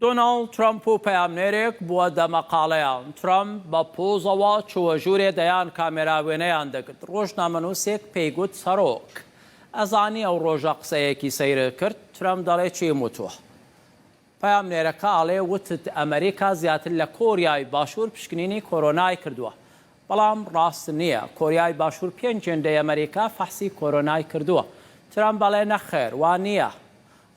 دۆناڵد ترەمپ و پەیامنێرێک بووە دەمەقاڵێیان، ترەمپ بە پۆزەوە چووە ژوورێ دەیان کامێرا وێنەیان دەگرت، ڕۆژنامەنووسێک پێی گوت سەرۆک، ئەزانی ئەو ڕۆژە قسەیەکی سەیرت کرد؟ ترەمپ دەڵێ چیم وتووە؟ پەیامنێرەکە ئەڵێ وتت ئەمریکا زیاتر لە کۆریای باشوور پشکنینی کۆرۆنای کردووە، بەڵام ڕاست نییە، کۆریای باشوور پێنج هێندەی ئەمریکا فەحسی کۆرۆنای کردووە، ترەمپ ئەڵێ نەخێر وا نییە،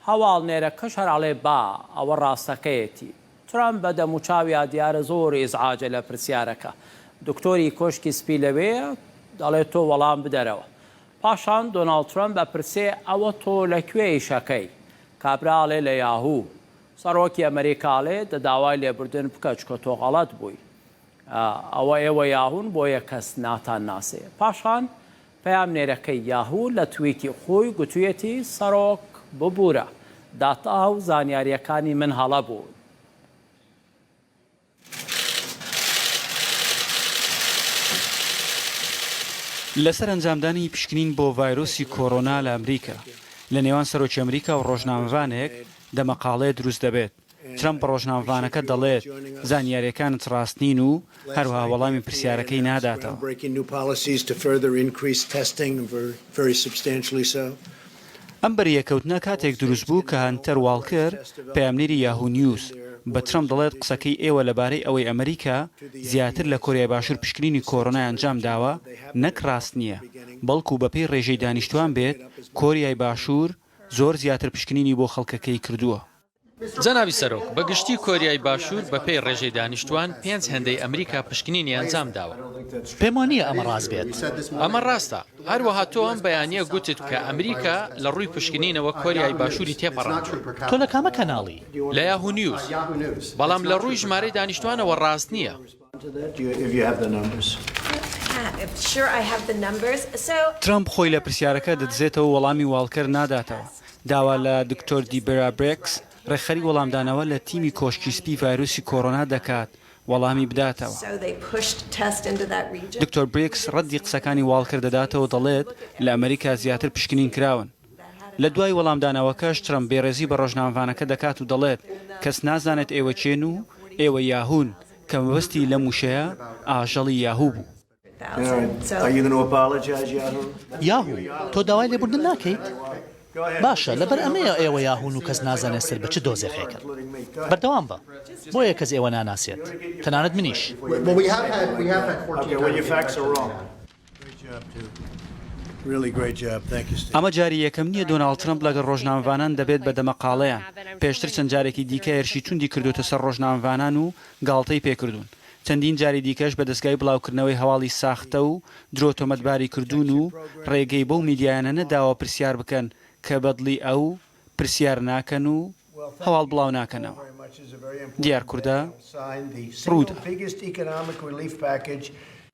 هەواڵنێرەکەش هەر ئەڵێ با، ئەوە ڕاستەکەیەتی. ترەمپ بە دەموچاویا دیارە زۆر ئیزعاجە لە پرسیارەکە. دکتۆری کۆشکی سپی لەوێیە، دەڵێ تۆ وەڵام بدەرەوە. پاشان دۆناڵد ترەمپ ئەپرسێ ئەوە تۆ لە کوێ ئیشەکەی؟ کابرا ئەڵێ لە یاهوو. سەڕۆکی ئەمریکا ئەڵێ دە داوای لێبوردن بکە چکە تۆ غەڵەت بووی. ئەوە ئێوە یاهوون بۆیە کەس ناتانناسێ. پاشان پەیامنێرەکەی یاهو لە تویتی خۆی گوتویەتی سەرۆک ببورە داتا و زانیاریەکانی من هەڵە بوون. لەسەر ئەنجامدانی پشکنین بۆ ڤایرۆسی کۆرۆنا لە ئەمریکا، لە نێوان سەرۆکی ئەمریکا و ڕۆژنامەڤانێک دەمەقاڵێ دروست دەبێت. ترەمپ بە ڕۆژنامەڤانەکە دەڵێت، زانیارییەکانت ڕاست نین و هەروەها وەڵامی پرسیارەکەی ناداتەوە. ئەم بەریەککەوتنە کاتێک دروست بوو کە هەنتەر واڵکر، پەیامنێری یاهوو نیوز، بە ترەمپ دەڵێت، قسەکەی ئێوە لەبارەی ئەوەی ئەمریکا زیاتر لە کۆریای باشوور پشکنینی کۆرۆنای ئەنجام داوە نەک ڕاست نییە، بەڵکو بەپێی ڕێژەی دانیشتوان بێت، کۆریای باشوور زۆر زیاتر پشکنینی بۆ خەڵکەکەی کردووە. جەنابی سەرۆک، بە گشتی کۆریای باشوور بە پێی ڕێژەی دانیشتووان پێنج هێندەی ئەمریکا پشکنینی ئەنجام داوە. پێم وا نییە ئەمە ڕاست بێت. ئەمە ڕاستە. هەروەها تۆ ئەم بەیانییە گوتت کە ئەمریکا لە ڕووی پشکنینەوە کۆریای باشووری تێپەڕاندووە. تۆ لە کامە کەناڵی؟ لە یاهوو نیوز. بەڵام لە ڕووی ژمارەی دانیشتووانەوە ڕاست نییە. ترەمپ خۆی لە پرسیارەکە دەدزێتەوە و وەڵامی واڵکەر ناداتەوە. داوا لە دکتۆر دیبرا بریکس، ڕێکخەری وەڵامدانەوە لە تیمی کۆشکی سپی ڤایرۆسی کۆرۆنا دەکات وەڵامی بداتەوە. دکتۆر بریکس ڕەدی قسەکانی واڵکەر دەداتەوە و دەڵێت، لە ئەمەریکا زیاتر پشکنین کراون. لە دوای وەڵامدانەوەکەش ترەمپ بێڕێزی بە ڕۆژنامەڤانەکە دەکات و دەڵێت، کەس نازانێت ئێوە کێن و ئێوە یاهوون، کە مەبەستی لەم وشەیە ئاژەڵی یاهوو بوو. یاهوو، تۆ داوای لێبوردن ناکەیت؟ باشە، لەبەر ئەمەیە ئێوە یاهوون و کەس نازانێت سەر بە چ دۆزەخێکن. بەردەوام بە، بۆیە کەس ئێوە ناناسێت، تەنانەت منیش. ئەمە جاری یەکەم نییە دۆناڵد ترەمپ لەگەڵ ڕۆژنامەڤانان دەبێت بە دەمەقاڵێیان، پێشتر چەند جارێکی دیکە هێرشی توندی کردووەتە سەر ڕۆژنامەڤانان و گاڵتەی پێکردوون، چەندین جاری دیکەش بە دەزگای بڵاوکردنەوەی هەواڵی ساختە و درۆ تۆمەتباری کردوون و ڕێگەی بەو میدیایانە نەداوە پرسیار بکەن کە بەدڵی ئەو پرسیار ناکەن و هەواڵ بڵاوناکەنەوە. دیارکوردە، ڕووداو.